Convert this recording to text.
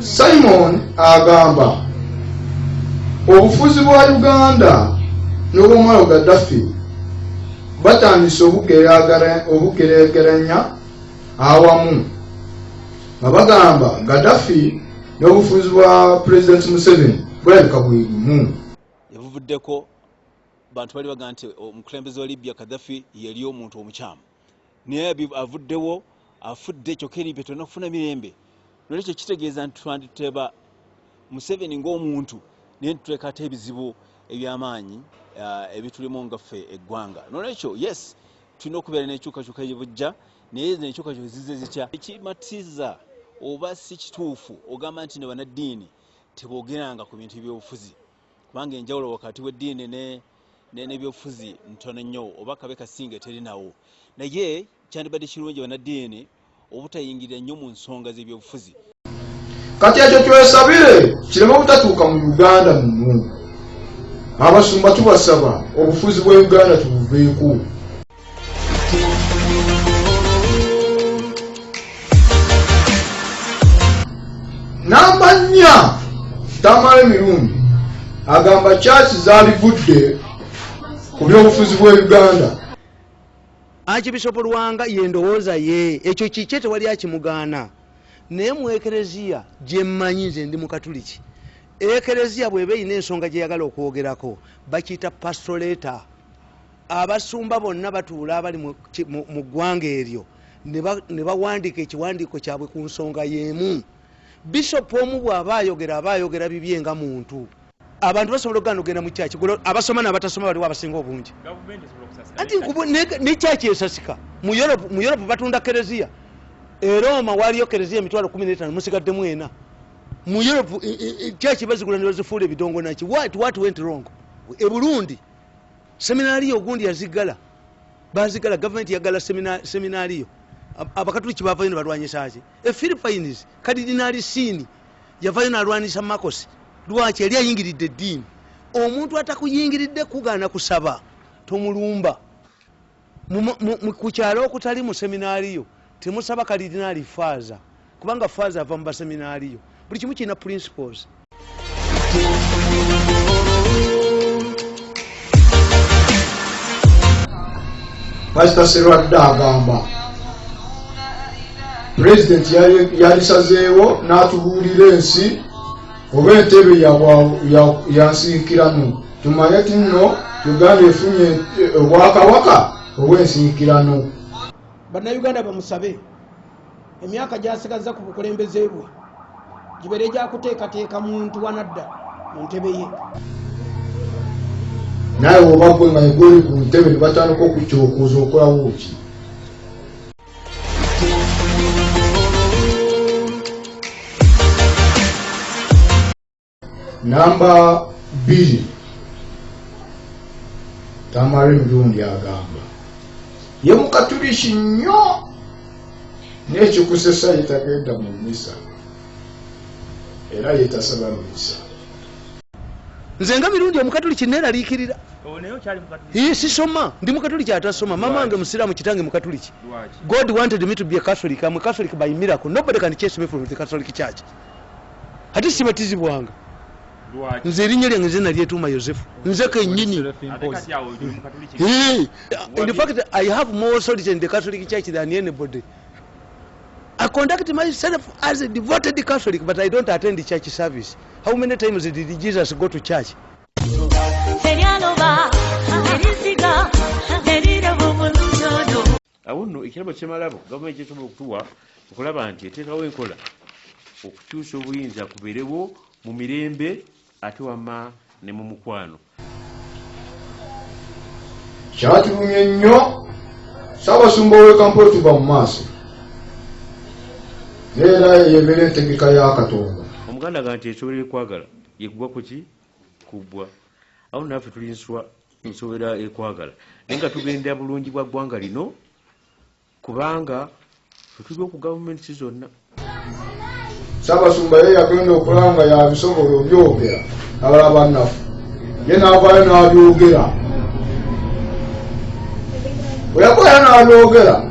simon agamba obufuzi bwa uganda n'obwomwalo gaddafi batandise obugeregeranya awamu nga bagamba gaddafi n'obufuzi bwa pulezidenti museveni bulabika buli bumu ebuvuddeko bantu bali baga nti omukulembeze wa libya kadhafi yali omuntu omukyamu naye avuddewo afudde kyokka eri byetona okufuna mirembe nolwekyo kitegeeza nti twanditeba museveni ngaomuntu naye nitutekaate ebizibu ebyamaanyi uh, ebitulimu nga ffe eggwanga nolwekyo yes tulina okubeera nekyukakyuka yebujja naye nekyukakyuka zize zitya ekimatiza oba si kituufu ogamba nti ne banaddiini tebogeranga ku bintu byobufuzi kubanga enjawulo wakati w'eddiini n'ebyobufuzi ntono nnyo oba kabe kasinga eterinawo naye kyandibadde kirungi banaddiini obutayingirira nnyo mu nsonga z'ebyobufuzi kati ekyo twesabire kireme obutatuuka mu uganda mumu abasumba tubasaba obufuzi bwa uganda tubuveeko namba nnya tamale mirundi agamba kyaki zalivudde ku byobufuzi bwa uganda akibisopo lwanga yendowooza ye ekyo kikye tewali akimugaana naye mu ekereziya gyemmanyi nze ndi mukatuliki ekereziya bweba erina ensonga gyeyagala okwogerako bakiyita pastoreta abasumba bonna batuula abali mu ggwanga eryo ne bawandiika ekiwandiiko kyabwe ku nsonga y'emu bishopu omu bw'aba ayogera aba ayogera bibye nga muntu abantu basobola okugana okugenda mu kyaki abasoma nabatasoma baliwo abasinga obungi anti ne kyaki esasika mu europe batunda kereziya erooma waliyo kereziya emitwalo kumi netano musigaddemu ena mu europe kyaki bazigula nebazifuula ebidongo naki wat wat went wrong e burundi Seminaaliyo gundi yaziggala, baaziggala, gavumenti yaggala seminaaliyo. Abakatuliki baavayo ne balwanyisa ki? E Philippines, Kadidinaali Siini yavayo n'alwanyisa Marcos. Lwaki? Yali ayingiridde eddiini. Omuntu atakuyingiridde kugaana kusaba, tomulumba. Ku kyalo okutali mu seminaaliyo temusaba kalidinaali faaza kubanga faaza ava mu baseminaaliyo. Buli kimu kirina principles. Pastor Serwadda agamba pulezidenti yalisazeewo n'atubuulira ensi oba entebe ya nsinkirano. tumanye ti nno uganda efunye eh, obwakawaka obwensiikirano bannayuganda bamusabe emyaka gyasigazza ku bukulembeze bwe gibeere gyakuteekateeka muntu wanadda mu ntebe ye naye oba gwe nga egoli ku ntebe ne batandika okukyokuuza okolawo ki namba bbiri tamari mulundi agamba ye mukatuliki nnyo nekikusesa yetagenda mu misa era yetasaba mu misa nze nga mirundi omukatuliki neraliikirira ye sisoma ndi mukatuliki atasoma mama wange musiraamu kitange mukatuliki god wanted me to be a catholic am a catholic by miracle nobody can chase me from the catholic church ate sibatizibwanga nze erinnya lyange nze nalyetuuma yosefu nze kenyini infact i have more solid in the catholic church than anybody i conduct myself as a devoted catholic but i don't attend church service how many times did jesus go to church Awo nno ekirabo kye malabo gavumenti kyesobola okutuwa okulaba nti eteekawo enkola okukyusa obuyinza kuberewo mu mirembe ate wamma ne mu mukwano. Kyatulumye nnyo Ssaabasumba w'e Kampala tuva mu maaso naye era yebeera entegeka ya Katonda. Omuganda aga nti ekyobera ekwagala yekugwa kuki kubbwa awo naffe tulinswa Nsobera ekwagala naye nga tugendera bulungi bwa ggwanga lino kubanga fetuli oku gavumenti zonna. Ssaabasumba ye yagenda okulaba nga yabisobola obyogera abala bannafu ye naavayo n'abyogera bwe yakola n'abyogera